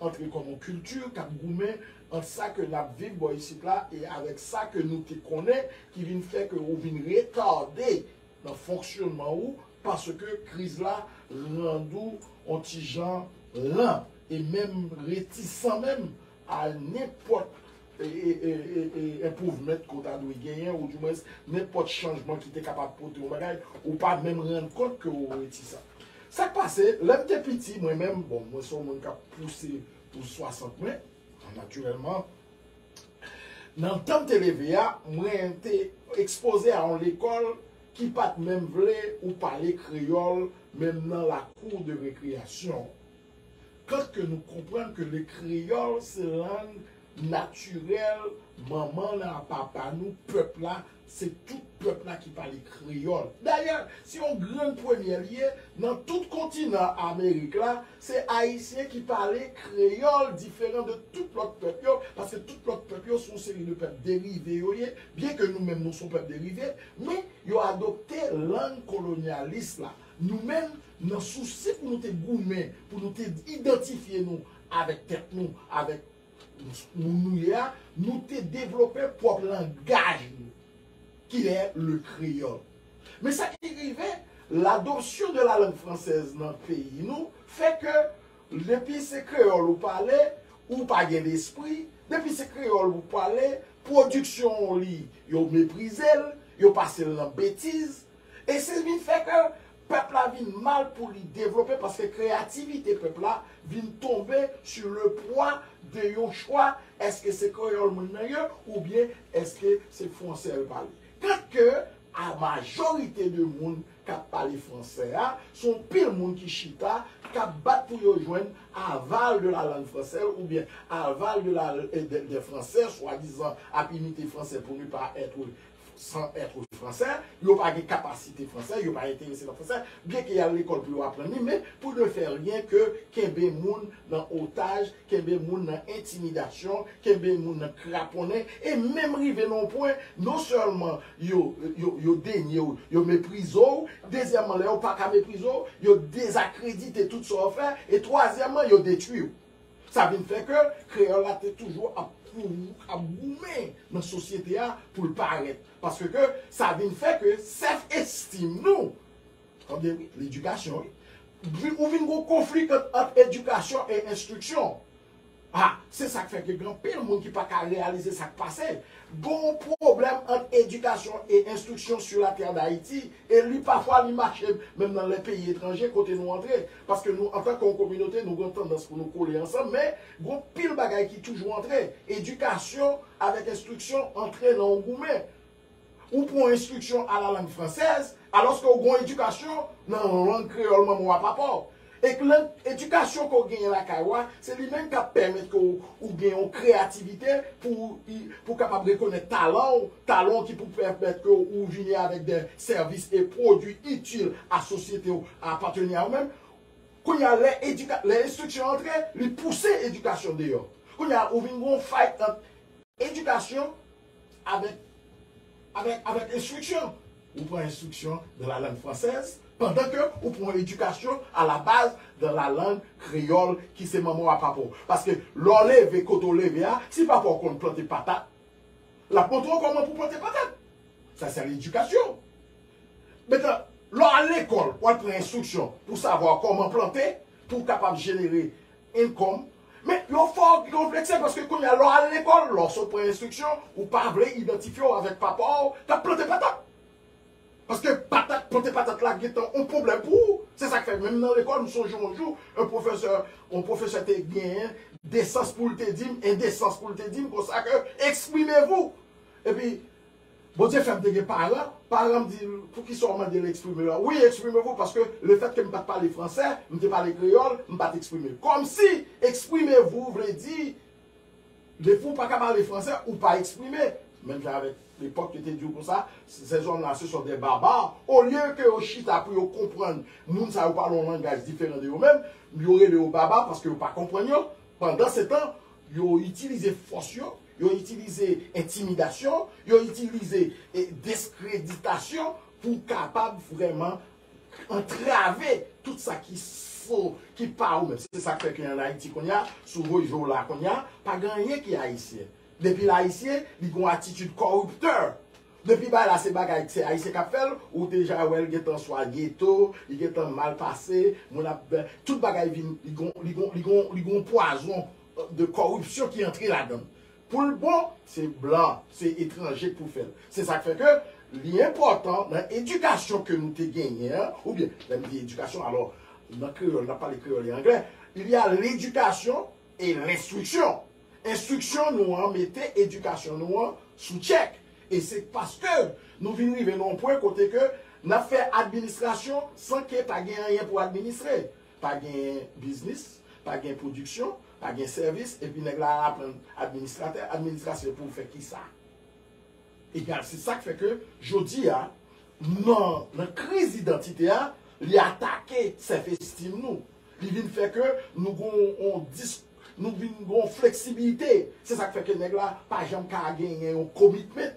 antre kòm yon kilti k ap goumen ant sa ke n ap viv bò isit la e avèk sa ke nou te konnen ki vin fè ke ou vin retade nan fonksyonman ou paske kriz la rand ou yon ti jan lan e menm retisan menm a nenpòt improvement ke w ta dwe genyen ou di mwens nenpòt chanjman ki te kapab pote yon bagay, ou pa menm rann kont ke w retisan. Sa k pase, lè m te piti mwen menm, bon mwen se yon moun k ap pouse pou 60 mwen, natirèlman, nan tan m te leve a, mwen te ekspoze a yon lekòl ki pa t menm vle ou pale kreyòl menm nan lakou de rekreyasyon. Kant ke nou konprann ke le kreyòl se lang natirèl manman nan a papa nou, pèp la, se tout pèp la ki pale kreyòl. Dayè, se yon grenn premyè li ye, nan tout kontinan Amerik la, se Ayisyen ki pale kreyòl diferan de tout lòt pèp yo, paske tout lòt pèp yo se yon seri de pèp derive yo ye, byenke nou menm nou se yon pèp derive, men yo adopte lang kolonyalis la. Nou menm, nan sousi pou nou te goumen, pou nou te idantifye nou avèk tèt nou, avèk moun nou ye a, nou te devlope pwòp langaj nou, ki lè le kreyòl. Men sa ki rive, l'adoption de la langue française nan peyi nou fè ke depi se kreyòl ou pale, ou pa gen lespri, depi se kreyòl ou pale, pwodiksyon ou li, yo meprize l, yo pase l nan betiz, E se vin fè ke pèp la vin mal pou li devlope paske kreyativite pèp la vin tonbe su le pwa de yon chwa èske se kreyòl moun nan ye oubyen èske se fwansè l pale. Tant ke a majorite de moun k ap pale fwansè a se yon pil moun ki chita k ap bat pou yo jwenn aval de la lang fransè l oubyen aval de la des fransè swadizan ap imite fransè pou ne pas être San ètre fransè, yo pa gen kapasite fransè, yo pa enterese nan fransè, byen ke y al lekòl pou yo aprann li, men pou ne fè ryen ke kenbe moun nan otaj, kenbe moun nan entimidasyon, kenbe moun nan kraponnen, e menm rive nan yon pwen, non sèlman yo, yo, yo denye w, yo meprize w, dezyèmman lè yo pa ka meprize w, yo dezakredite tout sa w fè, e twazyèmman yo detwi w. Sa vin fè ke kreyòl la te toujou ap goumen nan sosyete a pou l parèt. Paske ke sa vin fè ke sèf estim nou, tande wi, ledikasyon wi, ou vin gon konfli kant ant edikasyon e enstriksyon. A, se sa k fè ke gen anpil moun ki pa ka reyalize sa k pase. Gon pwoblèm ant edikasyon e enstriksyon sur la terre d'Haïti e li pafwa li mache menm nan lè peyi etranje kote nou antre. Paske nou antanke yon kominote nou gen yon tandans pou nou kole ansanm men gon pil bagay ki toujou antre. Edikasyon avèk enstriksyon antre nan yon goumen. Ou pran yon enstriksyon a la lang fransèz alòske ou gen yon edikasyon nan lang kreyòl manman w a papa w. E k lang edikasyon ke w genyen lakay ou a se li menm k ap pèmèt ke ou gen yon kreyativite pou ou kapab rekonèt talan w, talan w ki pou pèmèt ke ou vini avèk dè sèvis e pwodui itil a sosyete ou apateni a ou menm, kounye a lè edika, lè enstriksyon antre, li pouse edikasyon deyò. Kounye a ou vin gen yon fay ant edikasyon avèk, avèk, avèk enstriksyon. Ou pran enstriksyon dan la lang fransèz pandan ke ou pran yon edikasyon a la baz dan la lang kreyòl ki se manman w a papa w. Paske lè w leve kote w leve a, si papa w konn plante patat, l ap montre w kòman pou w plante patat. Sa se ledikasyon. Metan, lè w al lekòl, w al pran enstriksyon pou savwa kòman plante, pou w kapab jenere income. Men, yo fè w konplekse paske kounye a lè w al lekòl, lè w sot pran enstriksyon, ou pa vle idantifye w avèk papa w k ap plante patat. Paske patat, plante patat la gen tan yon pwoblèm pou ou. Se sa k fè menm nan lekòl, m sonje yon jou, yon pwofesè, yon pwofesè te gen desans pou l te di m, endesans pou l te di m konsa ke, exprimez-vous! Epi, Bondye fè m te gen paran, paran m di m poukisa w mande l eksprime l. Wi, eksprime vou paske lefètke m pa t pale fransè, m te pale kreyòl, m pa t eksprime. Kòmsi eksprime vou vle di depi w pa ka pale fransè, ou pa eksprime. Menm jan avèk lepòk yo te di yo konsa, ces hommes là ce sont des barbares, olye ke yo chita pou yo konprann moun sa yo pale yon langaj diferan de yo menm, yo rele yo baba paske yo pa konprann yo, pandansetan yo itilize fòs yo. Yo itilize entimidasyon, yo itilize deskreditasyon pou kapab vrèman antrave tout sa ki fo, ki pa ou menm. Se sa k fè ke an Ayiti kounye a, si w voye je w la kounye a, pa gen anyen ki ayisyen. Depi l ayisyen, li gen yon atitid kòriptè. Depi bagay la se bagay ke se ayisyen k ap fè l, ou deja wè l gen tan swa geto, li gen tan mal pase, moun ap, tout bagay vin, li gen yon, li gen yon pwazon de kòripsyon ki antre ladann. Pou l bon, se blan, se etranje k pou fè l. Se sa k fè ke li enpòtan nan edikasyon ke nou te genyen an, oubyen, lè m di edikasyon, alò, nan kreyòl, n ap pale kreyòl e anglè, il y a l'éducation et l'instruction. Enstriksyon nou an mete edikasyon nou an sou tchèk. E se paske nou vin rive nan yon pwen kote ke n ap fè administrasyon san ke pa gen anyen pou administre. Pa gen biznis, pa gen pwodiksyon, pa gen sèvis, epi nèg la al aprann administratè, administrasyon e pou fè kisa? Egal se sak fè ke jodi a nan nan kriz idantite a li atake sèf estim nou, li vin fè ke nou gon on dis nou vin gon fleksibilite se sak fè ke nèg la pa janm ka genyen yon komitment.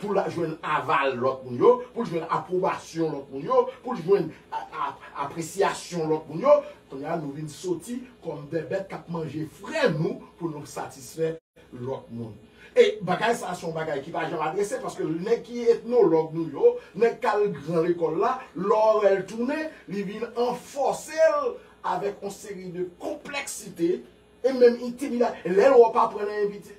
pou l jwenn aval lòt moun yo, pou l jwenn apwobasyon lòt moun yo, pou l jwenn apresyasyon lòt moun yo, kounye a nou vin soti kòm de bèt k ap manje frè nou pou nou satisfè lòt moun. E bagay sa a se yon bagay ki pa janm adrese paske nèg ki etnològ nou yo, nèg k al gran lekòl la, lè w wè l tounen, li vin anfòse l avèk yon seri de konplèksite, E menm intimida lè l wè w pa pran nan inviti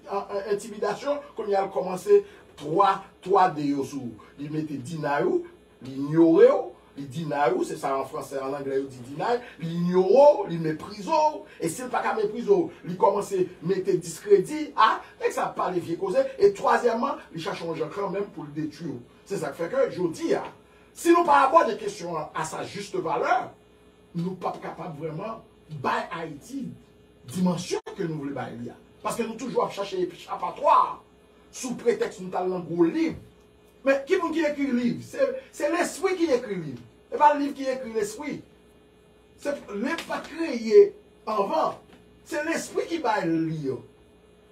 intimidasyon kounya l kòmanse 3 3 de yo sou ou li mete deny ou li inyore w li deny ou se sa an fransè an anglè yo di deny li inyore w li meprize w e si l pa ka meprize w li kòmanse mete diskredi a nèg sa ap pale vye koze e twazyèmman li chache yon jan kanmenm pou l detwi w se sa k fè ke jodi a si nou pa abòde kesyon an a sa juste valeur nou pap kapab vrèman bay Ayiti dimansyon ke nou vle bay li a. Paske nou toujou ap chache echapatwa sou pretèks nou t al nan gwo liv. Men, ki moun ki ekri liv? Se lespri ki ekri liv. E pa liv ki ekri lespri. Liv pa t kreye anvan. Se lespri ki bay li yo.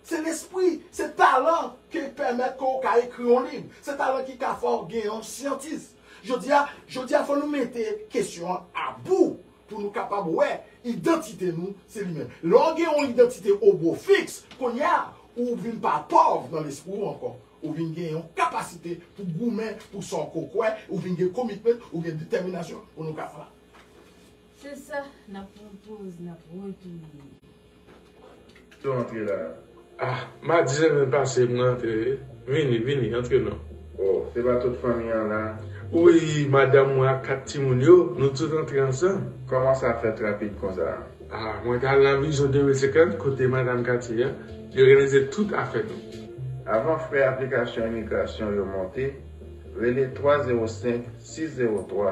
Se lespri, se talan ki pèmèt ke w ka ekri yon liv. Se talan ki ka fè w gen yon syantis. Jodi a, jodi a fò nou mete kesyon an a bou pou nou kapab wè idantite nou se li menm. Lè w gen yon idantite o bo fiks, kounye a, ou vin pa pòv nan lespri w ankò. Ou vin gen yon kapasite pou goumen pou sa w ko kwè, ou vin gen komitment, ou gen detèminasyon pou nou ka fè sa. Se sa nap pran poz nap retounen. Yo antre la ah madzen vin pase mwen antre wi vini vini antre non. Oh se pa tout fanmi an la. Wi madanm mwen ak 4 timoun yo nou tout antre ansanm. Koman sa fèt rapid konsa. Ah mwen ta al nan vizyon 2050 kote madam katye a li òganize tout afè nou. Avan frè aplikasyon imigrasyon yo monte, rele 305 603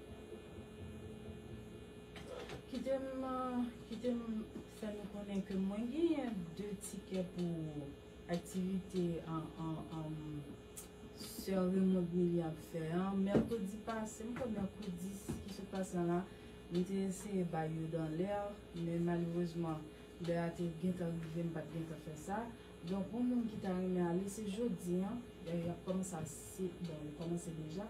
Kite m kite m fè nou konnen ke mwen genyen 2 tikè pou aktivite sè Raymond Milly ap fè an. Mèkredi pase, m kwè mèkredi ki sot pase an la, mwen te eseye bay yo dan lè, men malerezman lè a te gentan rive m pa t gentan fè sa. Donk pou moun ki ta renmen ale se jodi an, dayè y ap kòmanse a 6, bon yo kòmanse deja.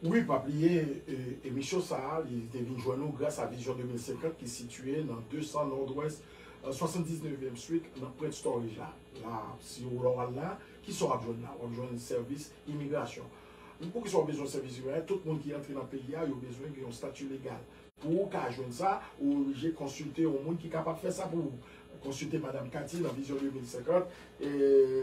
Wi pa bliye emisyon sa a li te vin jwenn ou gras a Vision 2050 ki sitiye nan 200 Nord-Ouest 79 ièm street nan Prince Storage la la si ou lè w al la ki sa w ap jwenn la w ap jwenn sèvis imigrasyon poukisa w bezwen sèvis imigrasyon tout moun ki antre nan peyi a yo bezwen gen yon stati legal Pou ou ka jwenn sa, ou oblije konsilte yon moun ki kapab fè sa pou ou. Konsilte Madam Cathy nan Vision 2050.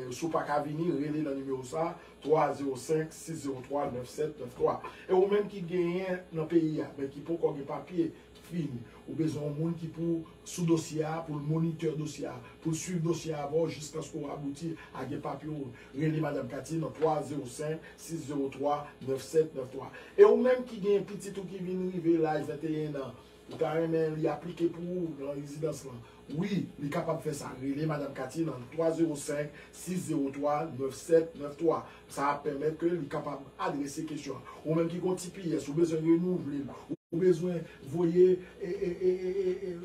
Si ou pa ka vini, rele nan nimewo sa, 305 603 9793. E ou menm ki genyen nan peyi a, men ki poko gen papye fini, ou bezwen yon moun ki pou sou dosye a, pou l monitè dosye a, pou l swiv dosye a avè w jiskaske w abouti a gen papye w, rele Madam Cathy nan 305 603 9793. E ou menm ki gen pitit ou ki vin rive laj 21 an, ou ta renmen li aplike pou ou nan rezidans lan, wi, li kapab fè sa, rele Madam Cathy nan 305 603 9793. Sa ap pèmèt ke li kapab adrese kesyon an. Ou menm ki gen yon tps, ou bezwen renouvle l, ou bezwen voye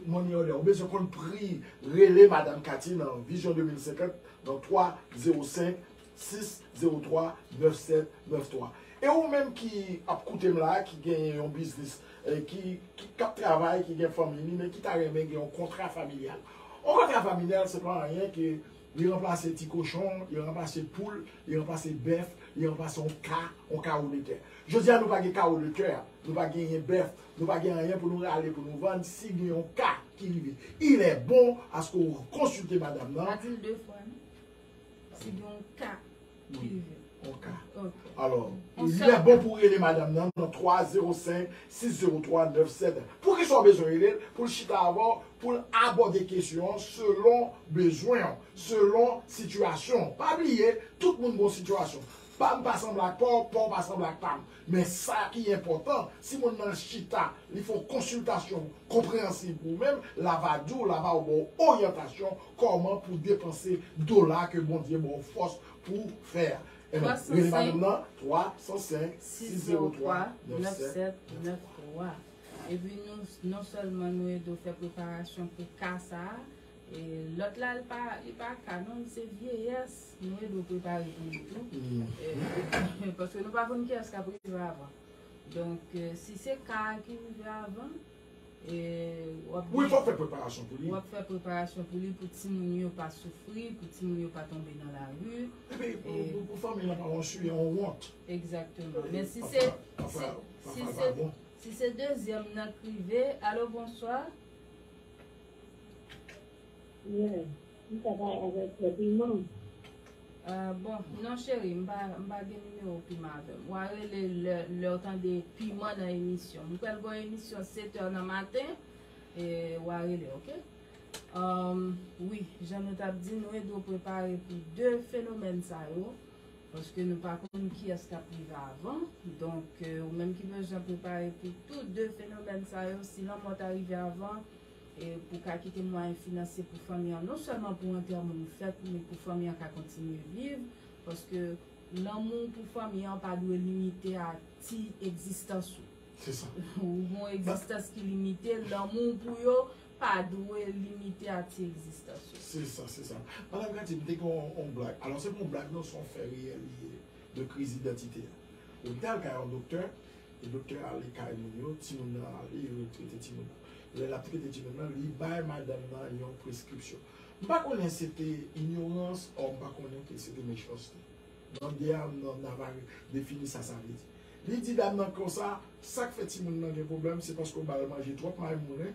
money order, ou bezwen konn pri, rele Madam Katie nan Vision 2050 nan 305 603 9793. E ou menm ki ap koute m la, ki gen yon biznis, ki ap travay, ki gen fanmi li, men ki ta renmen gen yon kontra familyal. Yon kontra familyal se pa anyen ke Li ranplase ti kochon, li ranplase poul, li ranplase bèf, li ranplase yon ka, yon kawo de tè. Jodi a nou pa gen kawo de tè, nou pa genyen bèf, nou pa gen anyen pou nou rale pou nou vann, si gen yon ka ki rive, ilè bon aske ou konsilte madam nan. Matilde Fran, si gen yon ka. Wi ok alò li bon pou rele madam nan nan 3 0 5 6 0 3 9 7 poukisa ou bezwen rele l pou l chita avè w pou l abòde kesyon an selon bezwen w selon sitiyasyon w pa bliye tout moun gon sitiyasyon pa m pa sanble ak pa w pa w pa sanble ak pa m Men sa ki enpòtan, si moun nan chita, li fè yon konsiltasyon konpreyansib pou ou menm, la va di w, la va ba w oryantasyon kòman pou depanse dola ke Bondye ba w fòs pou w fè a. Amen. Rele madanm nan 305 603 9793. Epi nou non sèlman nou ede w fè preparasyon pou ka sa a, Lot la li pa ka non li se vyeyès nou e do prepare pou li tou paske nou pa konn kiyès kap rive avan donk si se ka ki rive avan wap fè preparasyon pou li wap fè preparasyon pou li pou ti moun yo pa soufri pou ti moun yo pa tonbe nan la ri epi pou fanmi lan pa wonsu e yon wont egzakteman men si se si se si se dezyèm nan k rive alo bonswa. Yeah, m ka bay avèk fè piman. Euh bon non cheri m pa m pa gen nimewo piman avèm wa rele lè lèw tande piman nan emisyon m pral gon emisyon 7 heures nan maten wa rele ok euh wi jan nou tap di nou e dwe prepare pou 2 fenomèn sa yo paske nou pa konn kiyès kap rive avan donk ou menm ki bezwen prepare pou tou 2 fenomèn sa yo si lanmò ta rive avan e pou ka kite mwayen finansye pou fanmi an non sèlman pou antèman an fèt men pou fanmi an ka kontinye viv paske lanmou w pou fanmi an pa dwe limite a ti egzistans ou ou gon egzistans ki limite lanmou w pou yo pa dwe limite a ti egzistans ou. Se sa se sa Madame Katy m te gen yon blag alò se pa yon blag non se yon fè reyèl li ye de kriz idantite a ou te al kay yon doktè Doktè ale kay moun yo, timoun nan ale, yo trete timoun nan. Lè l ap trete timoun nan, li bay madanm nan yon preskripsyon. M pa konnen se te inyorans ò m pa konnen ke se te mechanste. Mande a nan Navarre defini sa sa vle di. Li di dam nan konsa, sa k fè timoun nan gen pwoblèm se paske w ba l manje twòp maymoulen,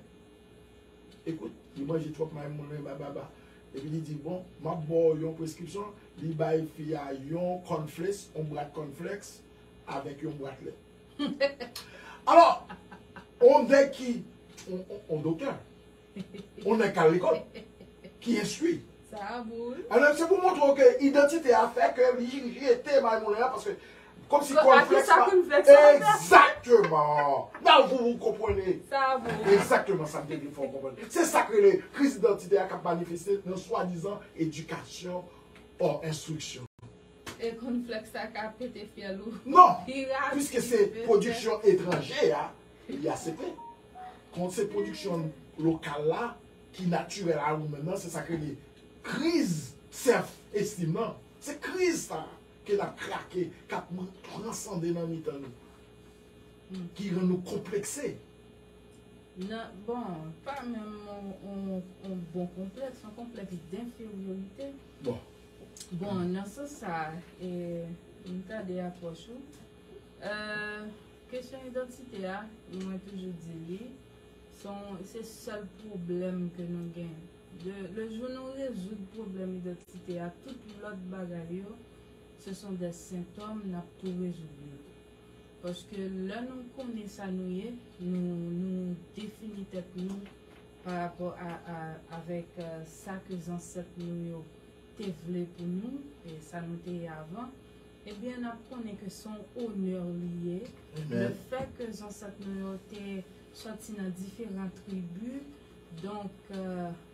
ekout, li manje twòp maymoulen bababa. Epi li di, bon, m ap ba w yon preskripsyon. Li bay fi a yon kònfles, yon bwat kònflèks. avèk yon bwat lèt. Alò, yon nèg ki, yon doktè, yon nèg k al lekòl, ki enstwi. Sa a bon wi. Alò, se pou montre w ke idantite a fè ke li jete bay moulen an paske kòmsi kònflèks pa. Atis la konflèks an. Egzakteman! Nan vou vou konprene. Sa a bon wi. Egzakteman sa m te vle fè w konprann. Se sa k rele kriz idantite a k ap manifeste nan swadizan edikasyon ò enstriksyon. E kon flèks sa ka pete fyèl ou. Non! Piske se pwodiksyon etranje a, li asepte. Kont se pwodiksyon lokal la, ki natirèl a ou menm nan, se sa k rele kriz sèf estim nan. Se kriz sa a ke n ap krake, k ap transande nan mitan nou. Ki rann nou konplekse. Nan, bon, pa menm yon bon konplèks, yon konplèks denferyorite. Bon. Bon, nan sans sa, e m gade apwòch ou, kesyon idantite a, mwen toujou di li, se sèl pwoblèm ke nou gen. Le jou nou rezoud pwoblèm idantite a, tout lòt bagay yo, se son dè sentòm, n ap tou rezoud yo tou. Paske lè nou konnen sa nou ye, nou defini tèt nou, pa rapò a avèk sa ke zansèt nou yo te vle pou nou e sa nou te ye avan, ebyen n ap konnen ke se yon onè li ye lefè ke zansèt nou yo te sòti nan diferan tribi, donk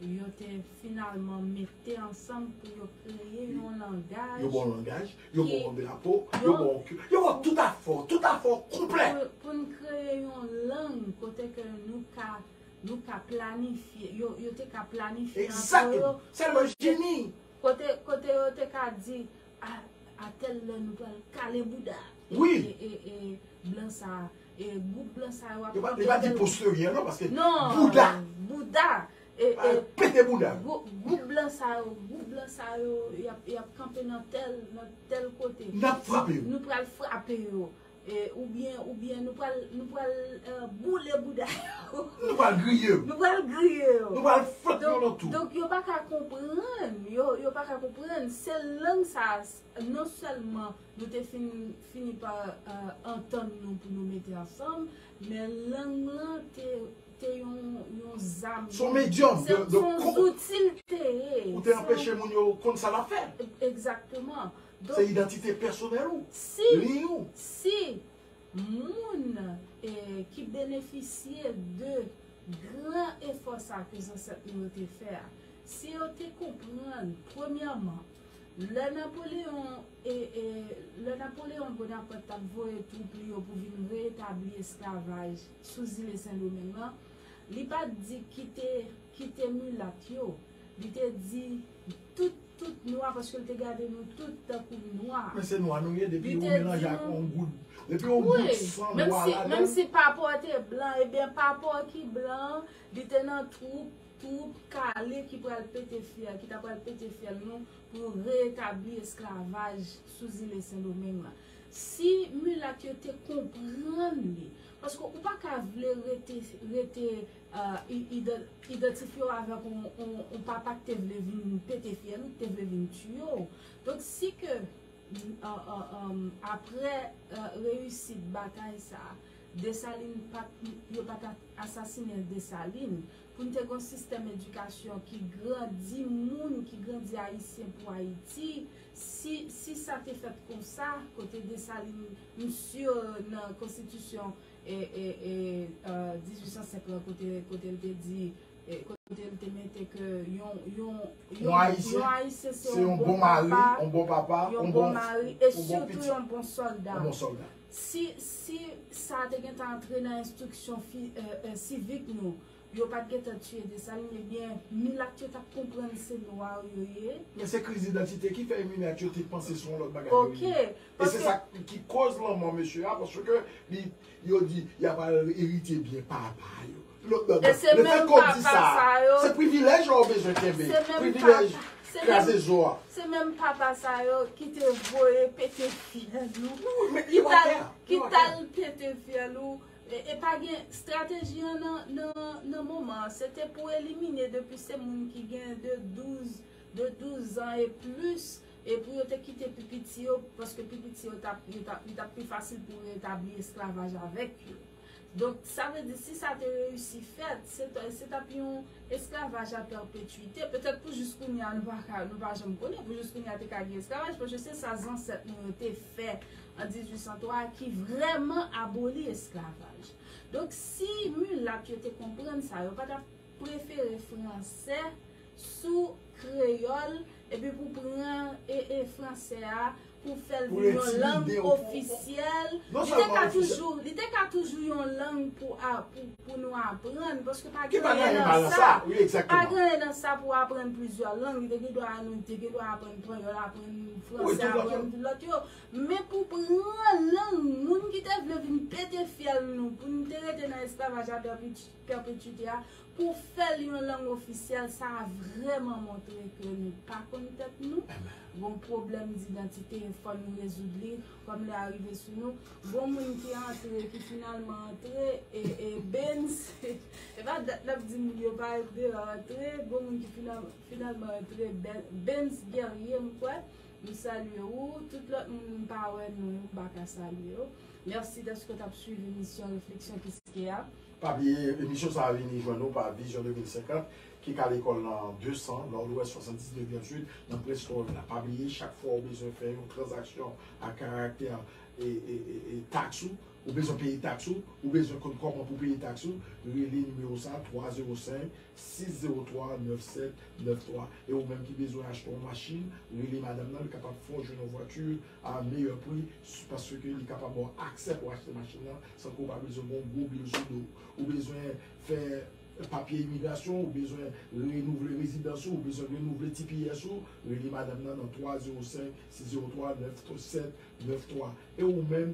yo te finalman mete ansanm pou yo kreye yon langaj, yo ba w langaj, yo ba w drapo, yo ba w ki, yo ba w tout afè w, tout afè w konplè. Pou n kreye yon lang kote ke nou ka. Nou ka planifye, yo te ka planifye antre yo. Exactly! Selman Jimmy. Kote, kote yo te ka di, a, a tel lè nou pral kale bouda. Oui! E, e, e, e, blan sa, e, group blan sa yo ap pran kotel. Yo pa di posterior non, paske. Non! Bouda! Bouda! E, e. Pete bouda. Group blan sa yo, group blan sa yo, y ap, y ap kanpe nan tel, nan tel kote. N ap frape yo. Nou pral frape yo. Ou byen, ou byen, nou pral, nou pral boule bouda yo. Nou pral griye yo. Nou pral griye yo. Nou pral foutt yo nan tou. Donk yo pa ka konprann, yo, yo pa ka konprann. Se lang sa a, non sèlman nou te fin, fini pa antann nou pou nou mete ansanm, men lang lan te, te yon, yon zam. Son medyòm de, de. Son zouti l te ye. Pou te anpeche moun yo konn sa l ap fè. Egzakteman. Se idantite pèsonèl ou, liy ou. Si moun ki benefisye de gran efò sa ke zansèt nou yo te fè a, si yo te konprann premyèman, lè Napoleon, lè Napoleon Bonaparte t ap voye twoup li yo pou vin reetabli esklavaj sou zile Sendomeng lan, li pa t di kite, kite milat yo, li te di tout. tout nwa paske l te gade nou tout tankou nwa. Men se nwa nou ye depi ou melanje ak yon gout depi yon gout san nwa ladann. Wi, menm si papa w te blan, ebyen papa w ki blan an li te nan twoup, twoup kale ki pral pete fyèl, ki ta pral pete fyèl nou pou reetabli esklavaj sou zile Sendomeng lan. Si milat yo te konprann li, paske ou pa ka vle rete, rete. idantifye w avèk yon papa ki te vle vin pete fyèl ou, ki te vle vin tiye w. Donk si ke aprè reyisit batay sa a, Desalin pa t, yo pa t asasinen Desalin, pou n te gen yon sistèm edikasyon ki grandi moun, ki grandi Ayisyen pou Ayiti, si sa te fèt konsa, kote Desalin, m si nan konstitisyon. e 1805 lan kote kote l te di e kote l te mete ke yon yon yon yon ayisyen se yon bon papa yon bon papa yon bon mari e sitou yon bon solda yon bon solda si si sa te gentan antre nan enstriksyon fi e e sivik nou Yo pat gentan tiye Dessalines ebyen milat yo tap konprann se noir yo ye. Men se kriz idantite ki fè milat yo te panse se yon lòt bagay yo ye. E se sa ki koz lanmò mesye a paske li yo di yap al eritye byen papa yo. Le fèt ke w di sa a, se privilèj la ou bezwen kenbe, privilèj kraze zo a. Se menm papa sa yo ki te voye pete fyèl ou, ki tal pete fyèl ou. E pa gen strateji an nan moman an. Se te pou elimine depi se moun ki gen de 12, de 12 zan e plis, e pou yo te kite pi piti yo, paske pi piti yo tap, yo tap, li tap pi fasil pou retabli esklavaj avèk yo. Donk, sa vle di si sa te reyisi fèt, se ta, se tap yon esklavaj a pèpetuite. Petèt pou jis kounye a nou pa ka, nou pa janm konnen, pou jis kounye a te ka gen esklavaj, paske se sa zansèt nou yo te fè an 1803 a ki vrèman aboli esklavaj. Donk si milat yo te konprann sa, yo pa t ap prefere franse sou kreyòl epi pou pran franse a pou fè l vin yon lang ofisyèl. Li te ka toujou yon lang pou nou aprann paske pa gen anyen nan sa pou aprann plizyè lang. Li te gen dwa aprann panyòl, aprann franse, aprann lòt yo. Men pou pran lang moun ki te vle vin pete fyèl nou pou n te rete nan esklavaj a pèpetuite a, pou fè l yon lang ofisyèl, sa a vrèman montre ke nou pa konn tèt nou, gon pwoblèm didantite e fò nou rezoud li, kòm lè a rive sou nou, gon moun ki antre, ki finalman antre, e, e, Bens, e pa dat n ap di moun yo pa antre, yo antre, gon moun ki finalman antre, Bens Guerrier m kwè. M salye ou, tout lòt moun m pa wè non yo m pa ka salye yo. Mèsi dèske w t ap suiv emisyon Refleksyon Kiskeya a. Pa bliye emisyon sa a vini jwenn ou pa Vision 2050 ki ka lekòl nan 200 Nòdwès 79 Yonn Street nan Prince Florida la. Pa bliye chak fwa ou bezwen fè yon tranzaksyon ak karaktè e taks ou. Ou bezwen peye taks ou? Ou bezwen konn kòman pou peye taks ou? Rele nimewo sa 305 603 9793 e ou menm ki bezwen achte yon machin rele madam nan li kapab fè w jwenn yon vwati a meyè pri paske li kapab ba w aksè pou achte machin nan san ke w pa bezwen gen yon gwo bil sou do w ou bezwen fè papye imigrasyon ou bezwen renouvle rezidans ou ou bezwen renouvle tps ou rele madam nan nan 305 603 9793 e ou menm.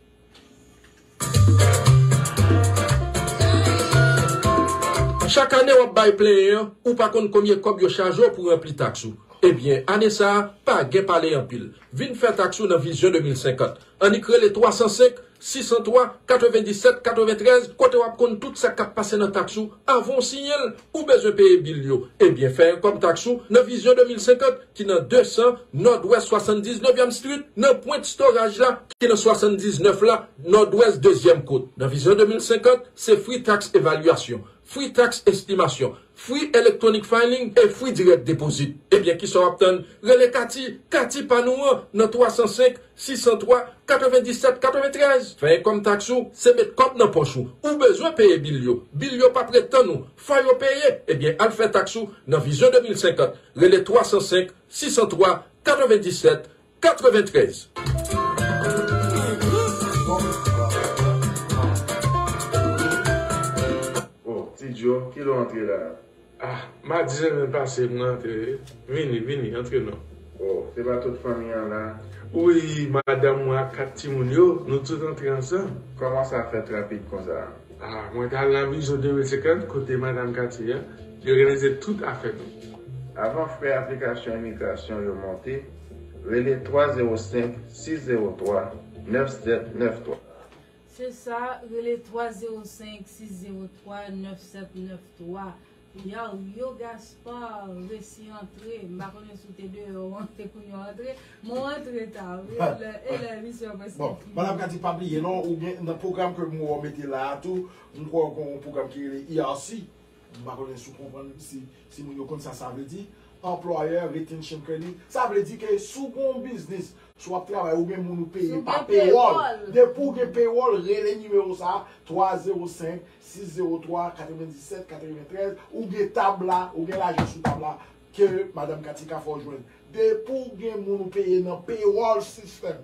Chak ane wap bay plenyen an ou pa konn konbyen kòb yo chaje w pou ranpli taks ou ebyen ane sa pa gen pale anpil vin fè taks ou nan vizyon 2050 annik rele 305 603 97 93 kote wap konn tout sa kap pase nan taks ou avan w siyen l ou bezwen peye bil yo ebyen fè yon kòb taks ou nan vizyon 2050. ki nan 200 nòdwès 79 yèm strit, nan pwent storaj la, ki nan 79 la, nòdwès dezyèm kot. Nan Vizyon 2050, se fri taks evalyasyon, fri taks estimasyon, fri electronic filing e fri direct deposit. Ebyen kisa w ap tann? Rele Kati, Kati pa nou an, nan 305 603 97 93. Fè enkòm taks ou, se met kòb nan pòch ou. Ou bezwen peye bil yo. Bil yo p ap ret tann ou. Fò yo peye. Ebyen al fè taks ou nan Vizyon 2050. Rele 305 603 97 93. Bon, ti Djo, kilè w antre la a? Ah, ma di renmen pase mwen antre wi. Vini, vini, antre non. Oh, se pa tout fanmi an la? Wi, madanm mwen ak 4 timoun yo, nou tout antre ansanm. Kòman sa fèt rapid konsa? Ah, mwen t al nan Bijou 2050, kote Madam Katie a. Yo reyalize tout afè nou. Avan frè aplikasyon imigrasyon yo monte, rele 305 603 9793. Se sa, rele 305 603 9793. Yow, yo Gaspard resi antre, m pa konnen si w te deyò ou antre kounye a w antre, men w antre ta wi, e lè emisyon an prèske fini. Bon, Madam Cathy pa bliye non, ou gen nan pwogram ke m wè w mete la a tou, m kwè w gen yon pwogram ki rele ERC. M pa konnen si w konprann, si moun yo konn sa sa vle di, Employer Retention Credit, sa vle di ke si w gen yon biznis, si w ap travay, ou gen moun ou peye pa pewòl, depi w gen pewòl, rele nimewo sa a, 305 603 97 93, ou gen tab la, ou gen lajan sou tab la, ke Madam Katika fè w jwenn. Depi w gen moun ou peye nan pewòl sistèm.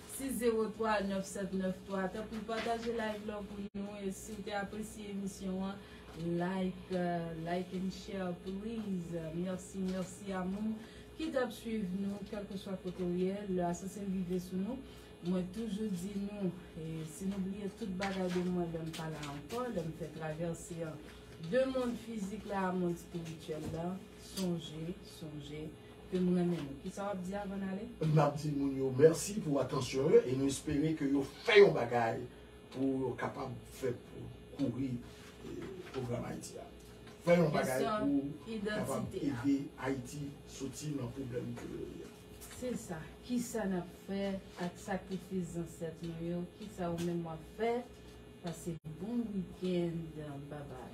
603 9793 tanpri pataje live lan pou nou e si w te apresye emisyon an like like and share please merci merci a moun ki tap swiv nou kelkeswa kote ou ye le asasen rive sou nou mwen toujou di nou e si nou bliye tout bagay de mwen lèm pa la anko lèm fè traverse an de mond fizik la a mond spirituel la sonje sonje Ke m renmen nou. Kisa w ap di avan n ale? M ap di moun yo mèsi pou atansyon yo e nou espere ke yo fè yon bagay pou yo kapab fè pou kouri pwogram Ayiti a. Fè yon bagay pou kapab ede Ayiti soti nan pwoblèm ke yo ye a. Se sa. Kisa n ap fè ak sakrifis zansèt nou yo? Kisa ou menm w ap fè? Pase bon weekend. Babay.